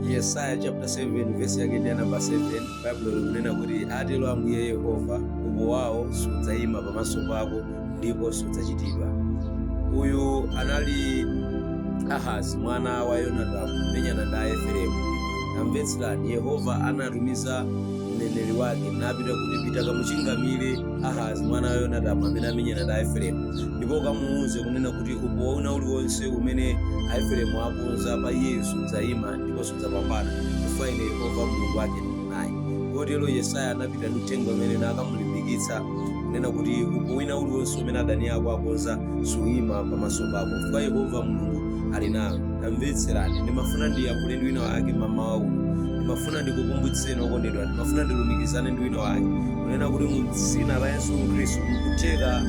yesaya chapter 7 vesi yake ndi ya namba 7 baibulo likunena kuti atero ambuye yehova upo wawo sudzayima pamaso pako ndipo sudzachitidwa uyu anali ahazi mwana wa yonatamu amamenyana ndi aefereimu tamvetserani yehova anatumiza mneneri wake napita akuti pita kamuchingamire ahazi mwana wa yonatamu amene amenyana ndi aefereimu ndipo kamuuze kunena kuti upo wina uliwonse umene aefereimu akonza pa iyeyo sudzayima ndipo sudzapambana chifukwa ine yehova mulungu wake ndili naye kotero yesaya anapita ndi uthenga umene nakamulimbikitsa kunena kuti upo wina uliwonse umene adani ako akonza suyima pamaso pako chifukwa yehova mulungu ali nawe tamvetserani ndimafuna ndiyankhule ndi wina wake mmawa uno ndimafuna ndikukumbutseni okondedwa ndimafuna ndilumikizane ndi wina wake kunena kuti mu dzina la yesu khristu mkutheka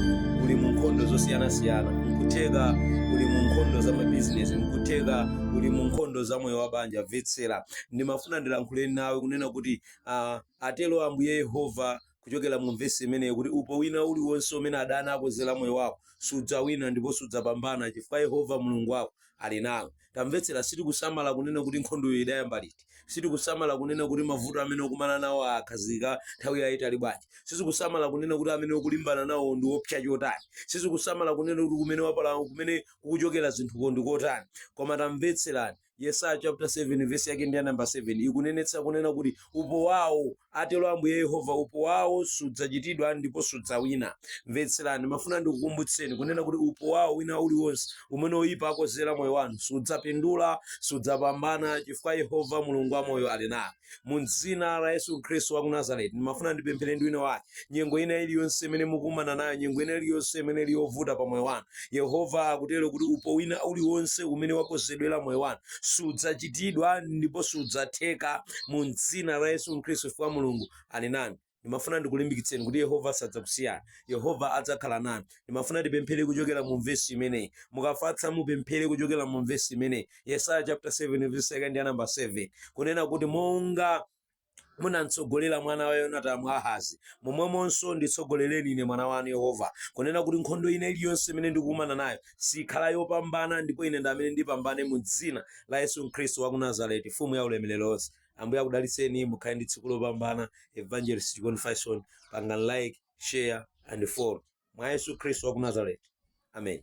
uli mu nkhondo zosiyanasiyana nkutheka uli mu nkhondo za mabizinesi nkutheka uli mu nkhondo za moyo wa banja mvetsera ndimafuna ndilankhule nawe kunena kuti uh, atero ambuye yehova kuchokera mu vesi imeneyi kuti upo wina uliwonse umene adani akonzera moyo wako sudzawina ndipo sudzapambana chifukwa yehova mulungu wako ali nawe tamvetsera sitikusamala kunena kuti nkhondoyo idayamba liti sitikusamala kunena kuti mavuto amene ukukumana nawo akhazika nthawi yayitali bwanji sitikusamala kunena kuti amene ukulimbana nawo ndi oopsa chotani sitikusamala kunena kuti kumene wapala kumene kukuchokera zinthuko ndi kotani koma tamvetserani yesaya chapter 7 verse yake ndi ya namba 7 ikunenetsa kunena kuti upo wawo Atero Ambuye Yehova, Upo wawo sudzachitidwa ndipo sudzawina. Mvetserani, ndimafuna ndikukumbutseni kunena kuti upo wawo wina uliwonse umene oyipa akonzera moyo wanu sudzapindula, sudzapambana chifukwa Yehova Mulungu wamoyo ali nanu. Mu dzina la Yesu Khristu wa ku Nazareti, ndimafuna ndipemphere ndi wina wake. Nyengo ina iliyonse imene mukukumana nayo, nyengo ina iliyonse imene ili yovuta pa moyo wanu, Yehova akutero kuti upo wina uliwonse umene wakonzedwera moyo wanu sudzachitidwa ndipo sudzatheka mu dzina la yesu khristu chifukwa mulungu ali nanu ndimafuna ndikulimbikitseni kuti yehova sadzakusiyani yehova adzakhala nanu ndimafuna tipemphere kuchokera mu vesi imeneyi mukafatsa mupemphere kuchokera mu vesi imeneyi yesaya chapter 7 verse yake ndi ya namba 7 kunena kuti monga munamtsogolera mwana wa yonatamu ahazi momwemonso nditsogolereni ine mwana wanu yehova kunena kuti nkhondo ina iliyonse imene ndikukumana nayo sikhala yopambana ndipo ine ndi amene ndipambane mu dzina la yesu khristu wa ku nazareti mfumu ya ulemerero wonse ambuye akudalitseni mukhale ndi tsiku lopambana evangelist chikondi faison pangani like share and follow mwa yesu khristu wa ku nazareti amen